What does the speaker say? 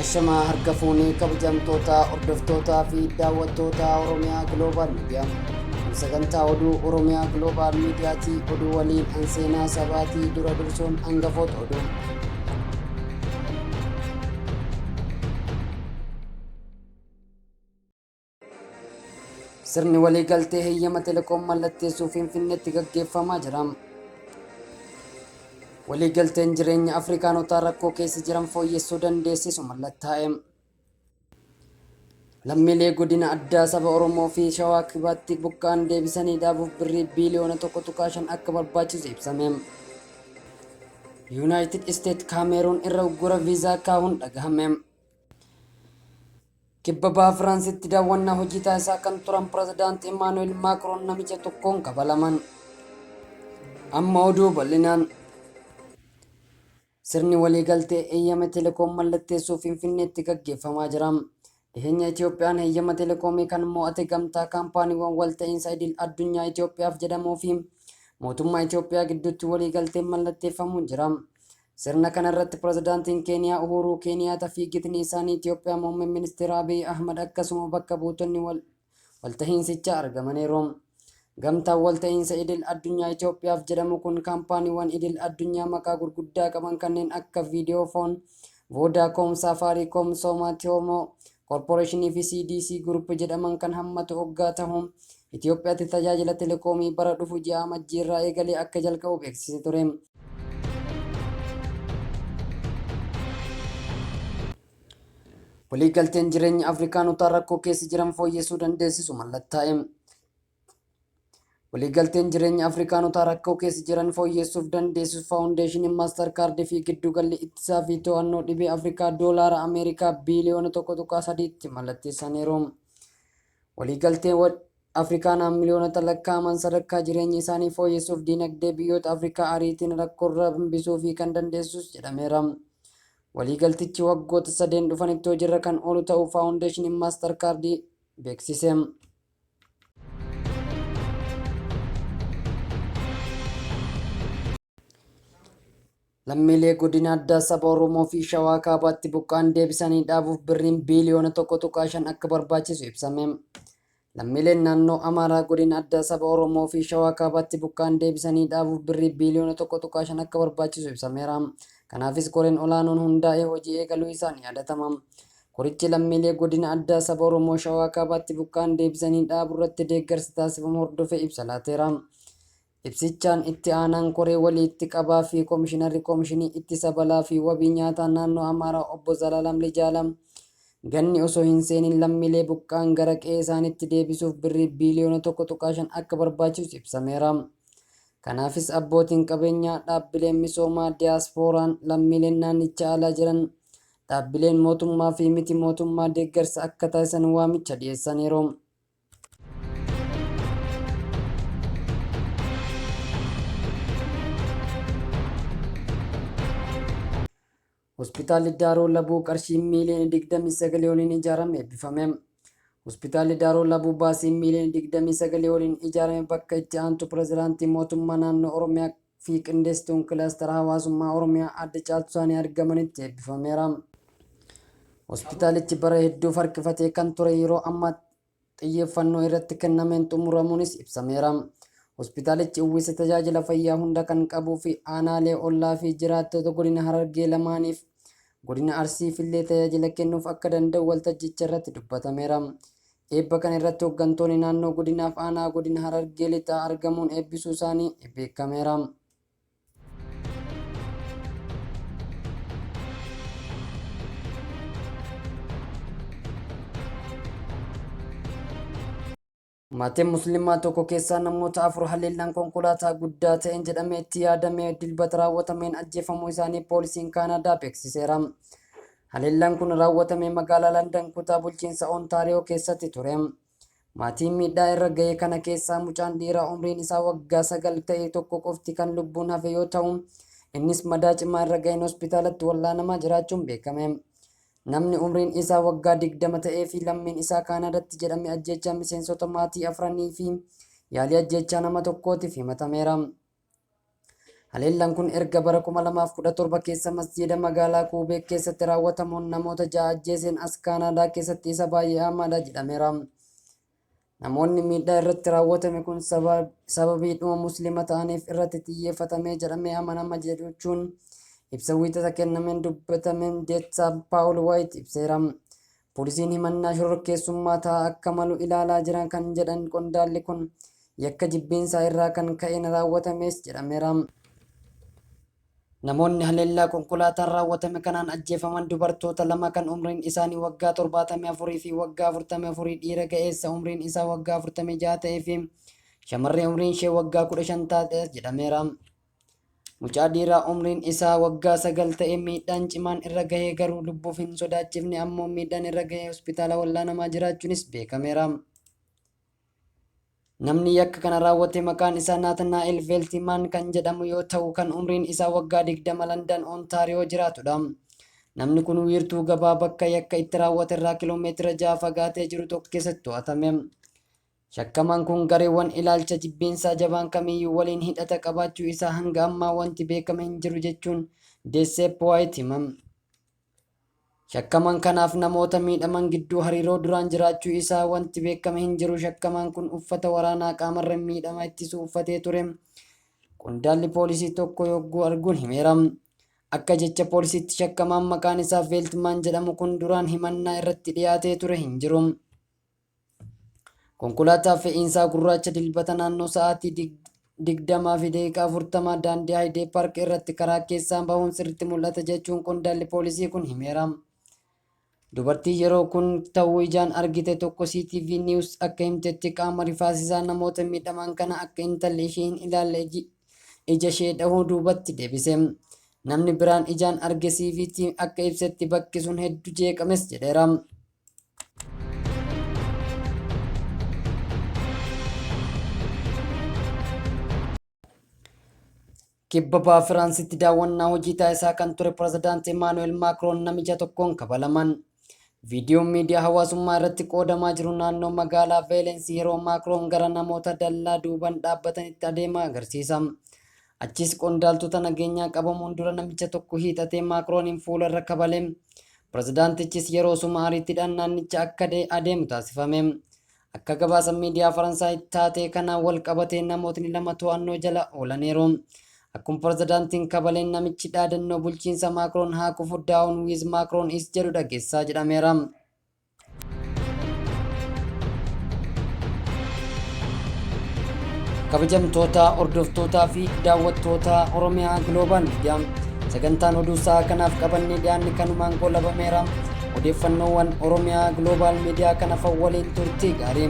Ashamaa harka fuunee kabajamtoota hordoftootaa fi daawwattoota Oromiyaa Global Media. Sagantaa oduu Oromiyaa Global Mediaati oduu waliin an seenaa sabaatii dura dursuun hangafoota oduu. Sirni waliigaltee heyyama telekoom mallatteessuu Finfinneetti gaggeeffamaa jira. Waliigalteen jireenya Afrikaanotaa rakkoo keessa jiran fooyyessuu dandeessisu mallattaa'e. Lammiilee godina addaa saba Oromoo fi Shawaa Kibaatti buqqa'an deebisanii dhaabuuf birrii biiliyoona 1.5 akka barbaachisu ibsame. Yuunaayitid Isteet Kaameeruun irra uggura viizaa kaa'uun dhagahame. Kibba Baha Firaansitti daawwannaa hojii taasisaa kan turan Pirezidaanti Imaanu'eel Maakroon namicha tokkoon kabalaman. Amma oduu bal'inaan sirni waliigaltee eeyyama telekoom mallatteessuu Finfinneetti gaggeeffamaa jira. Dhiheenya Itiyoophiyaan eeyyama telekoomii kan mo'ate gamtaa kaampaaniiwwan walta'iinsa idil addunyaa Itiyoophiyaaf jedhamuu fi mootummaa Itiyoophiyaa gidduutti waliigalteen mallatteeffamuun jira. Sirna kana irratti Pirezidaantiin Keeniyaa Uhuuruu Keeniyaata fi gitni isaanii Itiyoophiyaa Muummeen Ministeeraa Abiy Ahmad akkasuma bakka buutonni waltahiinsichaa argamaniiru. Gamtaan Walta'iinsa Idil Addunyaa Itiyoophiyaaf jedhamu kun kaampaaniiwwan idil addunyaa maqaa gurguddaa qaban kanneen akka Videofon, Vodacom, Safaricom, Soma, Tiomo, Corporation fi CDC Group jedhaman kan hammatu oggaa tahu, Itiyoophiyaatti tajaajila telekoomii bara dhufu ji'a Amajjii irraa eegalee akka jalqabu beeksise ture. Waliigalteen jireenya Afrikaanotaa rakkoo keessa jiran fooyyessuu dandeessisu mallattaa'e. Waliigalteen jireenya Afrikaanotaa rakkoo keessa jiran fooyyeessuuf dandeessisu faawundeeshiniin maastar kaardii fi giddugalli ittisaa fi to'annoo dhibee Afrikaa doolaara Ameerikaa biiliyoona 1.3tti mallatteessaniiru. Waliigalteen wal Afrikaanaa miliyoonota lakkaa'aman sadarkaa jireenya isaanii fooyyessuuf diinagdee biyyoota Afrikaa ariitiin rakkoorra hambisuu fi kan dandeessisus jedhameera. Waliigaltichi waggoota sadeen dhufanitti hojiirra kan oolu ta'uu faawundeeshiniin maastar kaardii beeksise. Lammiilee godina addaa saba Oromoo fi Shawaa Kaabaatti buqqaan deebisanii dhaabuuf birriin biiliyoona tokko tuqaa shan akka barbaachisu ibsame. Lammiileen naannoo Amaaraa godina addaa saba Oromoo fi Shawaa Kaabaatti buqqaan deebisanii dhaabuuf birrii biiliyoona tokko tuqaa shan akka barbaachisu ibsameera. Kanaafis koreen olaanoon hundaa'ee hojii eegaluu isaan yaadatama. Korichi lammiilee Godina Addaa Saba Oromoo Shawaa Kaabaatti buqqa'an deebisanii dhaaburratti deeggarsa taasifamu hordofee ibsa laateera. Ibsichaan Itti Aanaan Koree Walii Itti Qabaa fi Komishinarri Komishinii Ittisa Balaa fi Wabii Nyaataa Naannoo Amaaraa Obbo Zalaalam Lijaala ganni osoo hin seenin lammiilee buqqa'an gara qe'ee isaaniitti deebisuuf birrii biiliyoona 1.5 akka barbaachisu ibsameera. Kanaafis abbootiin qabeenyaa, dhaabbileen misoomaa, diyaaspooraan, lammiileen naannicha alaa jiran, Dhaabbileen mootummaa fi miti mootummaa deeggarsa akka taasisan waamicha dhiyeessaniiru. Hospitaalli Daaroo Labuu qarshii miiliyoona 29 oliin ijaarame eebbifame. Hospitaalli Daaroo Labuu baasii miiliyoona 29 oliin ijaarame bakka itti aantu pirezidaantii mootummaa naannoo Oromiyaa fi Qindeessituun Kilaastara Hawaasummaa Oromiyaa Aadde Caaltuu Saanii argamanitti eebbifameera. Hospitaalichi bara hedduuf harkifatee kan ture yeroo ammaa xiyyeeffannoo irratti kennameen xumuramuunis ibsameera. Hospitaalichi uwwisa tajaajila fayyaa hunda kan qabuu fi aanaalee ollaa fi jiraattota godina Harargee lamaaniif Godina Arsiif illee tajaajila kennuuf akka danda'u waltajjicha irratti dubbatameera. Eebba kana irratti hoggantoonni naannoo godinaaf aanaa godina Harargee Lixaa argamuun eebbisuu isaanii beekameera. Maatiin Musliimaa tokko keessaa namoota afur haleellaan konkolaataa guddaa ta'een jedhamee itti yaadamee dilbata raawwatameen ajjeefamuu isaanii poolisiin Kaanaadaa beeksiseera. Haleellaan kun raawwatame magaalaa Landan kutaa bulchiinsa Ontaariyoo keessatti ture. Maatiin miidhaa irra ga'e kana keessaa mucaan dhiiraa umriin isaa waggaa sagal ta'e tokko qofti kan lubbuun hafe yoo ta'u, innis madaa cimaa irra ga'een hospitaalatti wal'aanamaa jiraachuun beekame. Namni umriin isaa waggaa 20 ta'ee fi lammiin isaa Kaanaadatti jedhame ajjeechaa miseensota maatii afranii fi yaalii ajjeechaa nama tokkootiif himatameera. Haleellaan kun erga bara 2017 keessa masjiida magaalaa Kuubeek keessatti raawwatamuun namoota ja'a ajjeeseen as Kaanaadaa keessatti isa baay'ee hamaadha jedhameera. Namoonni miidhaa irratti raawwatame kun sababiidhuma Muslima ta'aniif irratti xiyyeeffatamee jedhamee amanama jechuun ibsa Wiixata kennameen dubbatameen Deettaa Paawul Waayit ibseera. Poolisiin himannaa shororkeessummaa ta'aa akka malu ilaalaa jira kan jedhan qondaalli kun, yakka jibbiinsaa irraa kan ka'een raawwatamees jedhameera. Namoonni haleellaa konkolaataan raawwatame kanaan ajjeefaman dubartoota lama kan umriin isaanii waggaa 74 fi waggaa 44 dhiira ga'eessa umriin isaa waggaa 46 ta'ee fi shamarree umriin ishee waggaa 15 taate jedhameera. Mucaa dhiiraa umriin isaa waggaa 9 ta'e miidhaan cimaan irra gahee garuu lubbuuf hin sodaachifne ammoo miidhaan irra gahee hospitaala wal'aanamaa jiraachuunis beekameera. Namni yakka kana raawwate maqaan isaa Naatanaa'el Veeltimaan kan jedhamu yoo ta'u kan umriin isaa waggaa 20 Landan Ontaariyoo jiraatudha. Namni kun wiirtuu gabaa bakka yakka itti raawwate irraa kiloomeetira 6 fagaatee jiru tokko keessatti to'atame. Shakkamaan kun gareewwan ilaalcha jibbiinsaa jabaan kamiyyuu waliin hidhata qabaachuu isaa hanga ammaa wanti beekame hin jiru jechuun Deesseep Waayit hima. Shakkamaan kanaaf namoota miidhaman gidduu hariiroo duraan jiraachuu isaa wanti beekame hin jiru. Shakkamaan kun uffata waraanaa qaamarra miidhama ittisu uffatee ture. Qondaalli poolisii tokko yogguu arguun himeera. Akka jecha poolisiitti shakkamaan maqaan isaa Veeltmaan jedhamu kun duraan himannaa irratti dhiyaatee ture hin jiru. Konkolaataa fe'iinsaa gurraacha dilbata naannoo sa'aatii 20:40 daandii Haayidee Paark irratti karaa keessaa bahuun sirriitti mul'ata jechuun qondaalli poolisii kun himeera. Dubartiin yeroo kun ta'uu ijaan argite tokko CTV News akka himtetti qaama rifaasisaa namoota miidhaman kana akka intalli ishee hin ilaalle ija ishee dhahuu duubatti deebise. Namni biraan ijaan arge CVT akka ibsetti bakki sun hedduu jeeqames jedheera. Kibba baha Firaansitti daawwannaa hojii taasisaa kan ture pirezidaantii Emaanu'eel Maakroon namicha tokkoon kabalaman. Viidiyoon miidiyaa hawaasummaa irratti qoodamaa jiru naannoo magaalaa Veelensii yeroo Maakroon gara namoota dallaa duubaan dhaabbatanitti adeemaa agarsiisa. Achiis qondaaltota nageenyaa qabamuun dura namicha tokko hiixatee Maakrooniin fuula irra kabale. Pirezidaantichis yeroosuma ariitiidhaan naannicha akka adeemu taasifame. Akka gabaasa miidiyaa Faransaay taatee kanaan wal qabatee namootni lama to'annoo jala oolaniiru. Akkuma pirezidaantiin kabaleen namichi dhaadannoo bulchiinsa Maakroon haa kufu Daawun Wiiz Maakroon is jedhu dhageessisaa jedhameera. kabajamtoota hordoftootaa fi daawwattoota oromiyaa giloobal miidiyaa sagantaan oduu isaa kanaaf qabannee dhiyaanne kanumaan goolabameera odeeffannoowwan oromiyaa giloobal miidiyaa kanaaf waliin turtii gaarii